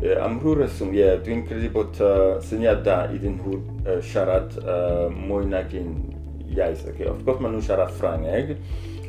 Uh, am rhyw reswm, ie, yeah, dwi'n credu bod uh, syniad da iddyn nhw uh, siarad uh, mwy nag un iaith. Okay. Wrth gwrs maen nhw'n siarad Ffrangeg,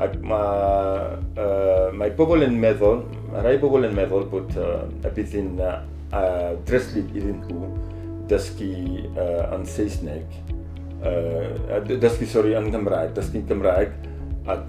ac mae, uh, mae pobl yn meddwl, mae rhai pobl yn meddwl bod uh, y bydd yn uh, uh, dreslyd iddyn nhw dysgu uh, yn Saesneg, uh, dysgu, sori, yn Gymraeg, dysgu Gymraeg, ac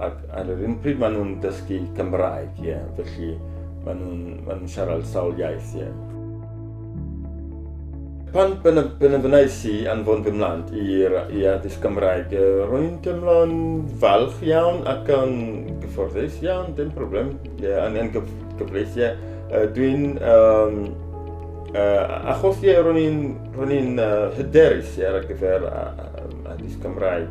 ac ar yr un pryd maen nhw'n dysgu Cymraeg, ie, yeah. felly maen nhw'n ma nhw siarad sawl iaith, ie. Yeah. Pan benefynais i anfon fy mlant i addysg Gymraeg, rwy'n teimlo'n falch iawn ac yn gyfforddus iawn, dim problem, ie, yeah, yn gyf gyfleus, ie. Yeah. Uh, Dwi'n... Um, uh, achos ie, yeah, rwy'n uh, hyderus yeah, ar gyfer addysg Gymraeg.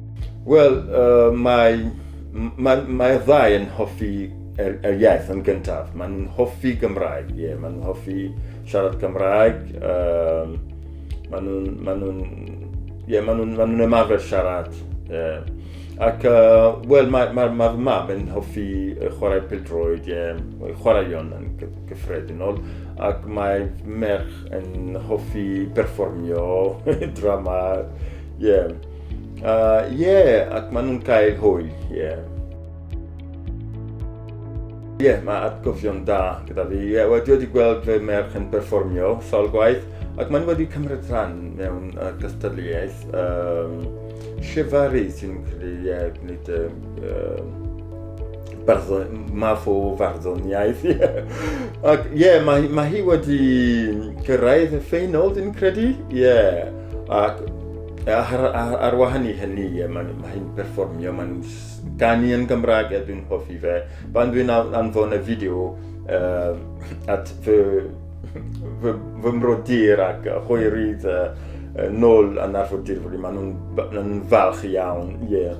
Wel, uh, mae, mae, mae'r ddau yn hoffi er, er iaith yn gyntaf. Maen nhw'n hoffi Gymraeg, ie. Yeah. Maen nhw'n hoffi siarad Gymraeg. Um, maen nhw'n... Maen nhw, yeah, maen nhw'n maen nhw ymarfer siarad. Yeah. Ac, uh, wel, mae'r ma, ma, ma mam yn hoffi chwarae pildroed, ie, yeah, chwaraeon yn gyffredinol, ac mae merch yn hoffi berfformio, drama, ie. Yeah. Uh, yeah, ac maen nhw'n cael hwyl, yeah. Ie, yeah, mae atgofion da gyda fi. Yeah, wedi wedi gweld fy merch yn perfformio sawl gwaith, ac maen wedi cymryd rhan mewn uh, gystadleuaeth um, llefaru sy'n credu ie, yeah, gwneud um, barddon, math o farddoniaeth. ac ie, yeah, mae, mae hi wedi cyrraedd y ffeinol, dwi'n credu. Ie, yeah. ac Ar, ar, ar wahan i hynny, mae'n mae hi'n perfformio, mae'n ganu yn Gymraeg a dwi'n hoffi fe. Pan dwi'n anfon y fideo uh, at fy, fy, fy mrodyr ac hwyrydd uh, nôl yn arfordir, maen nhw'n nhw falch iawn. Yeah.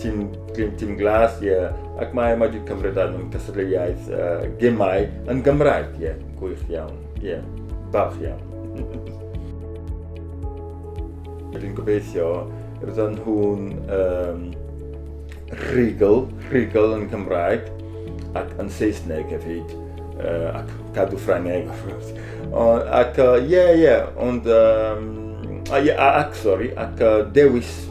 Tîm Green Tîm Glas, ie. Yeah. Ac mae wedi cymryd ar mewn cystadleuaeth uh, gemau yn Gymraeg, ie. Yeah. Gwych iawn, ie. Yeah. Balch iawn. Dwi'n gobeithio, roedden nhw'n um, rhigl, rhigl yn Cymraeg ac yn Saesneg hefyd, uh, ac cadw Ffrangeg, of course. Ac, ie, uh, ie, yeah, yeah, ond, um, ac, sorry, ac uh, dewis